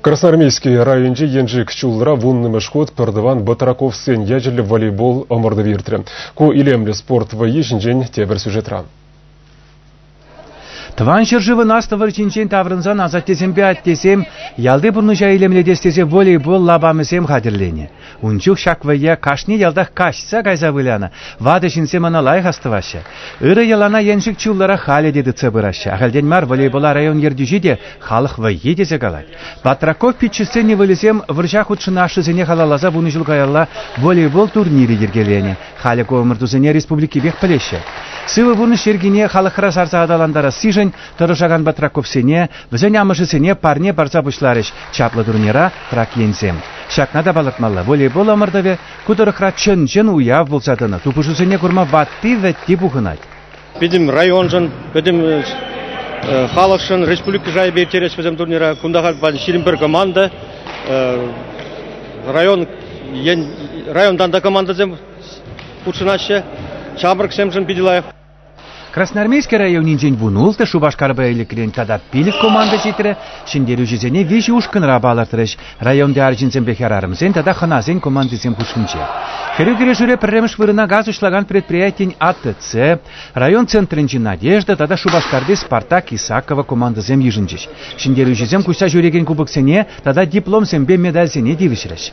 Красноармейски районӗнчи Еншик ҫулра вуннӑмӗш хут пӗртӑван Батраковсен ячӗллӗ волейбол ӑмӑртӑвӗ иртрӗ. Ку илемлӗ спорт вӑййи ҫинчен тепӗр сюжетра. Тӑван ҫӗршывӑн Аслӑ вӑрҫинчен таврӑнсан асаттесемпе аттесем ялти пурнӑҫа илемлетес тесе волейбол лапамӗсем хатӗрленӗ. Ун чух ҫак вӑййа кашни ялтах каҫса кайса вылянӑ. Ватӑ ҫынсем ӑна лайӑх астӑваҫҫӗ. Ырӑ йӑлана еншик чуллӑрах халӗ те тытса пыраҫҫӗ. Ахальтен мар волейбола район ертӳҫи те халӑх вӑййи тесе калать. Патраков пиччӗсен ывӑлӗсем вӑрҫа хутшӑнашҫӑсене халалласа вунӑ ҫул каялла волейбол турнирӗ йӗркеленӗ. Халӗ ку ӑмӑртусене республикипех пӗлеҫҫӗ. Сывӑ пурнӑҫ йӗркине халӑхра сарса аталантарассишӗн тӑрӑшакан Батраковсене Вӗсен амӑшӗсене парне парса пуҫларӗҫ чаплӑ турнира трак енсем. Ҫакна та палӑртмалла, волейбол ӑмӑртӑвӗ ку тӑрӑхра чӑн-чӑн уяв пулса тӑнӑ, тупӑшусене курма ватти-вӗтти пухӑнать. Пӗтӗм районшӑн, пӗтӗм э, халӑхшӑн республика шайӗпе ирттерес вӗсем турнира. Кунта халь ҫирӗм пӗр команда. Э, район районтан та командӑсем хутшӑнаҫҫӗ. Ҫамрӑксемшӗн питӗ лайӑх. Красноармейски районӗнчен вун ултӑ Шупашкарпа Элӗкрен тата пилӗк команда ҫитрӗ, ҫӗнтерӳҫӗсене виҫӗ ушкӑнра палӑртрӗҫ. Районти арҫынсемпе хӗрарӑмсен тата хӑнасен командисем хушшинче. Хӗрӳ кӗрешӳре пӗрремӗш вырӑна газ уҫлакан предприятин АТЦ, район центрӗнчи Надежда тата Шупашкарти Спартак Исакова командӑсем йышӑнчӗҫ. Ҫӗнтерӳҫӗсем куҫса ҫӳрекен кубоксене тата дипломсемпе медальсене тивӗҫрӗҫ.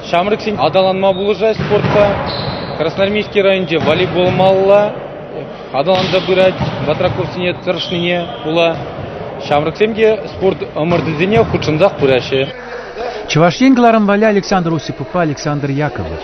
Ҫамрӑксен аталанма пулӑшать спортпа. Красноармейски районӗнче волейбол малла аталанса пырать. Батраковсене тӑрӑшнине пула ҫамрӑксем те спорт ӑмӑртӑвӗсене хутшӑнсах пыраҫҫӗ. Чӑваш Ен кӑларӑм валли Александр Осиповпа Александр Яковлев.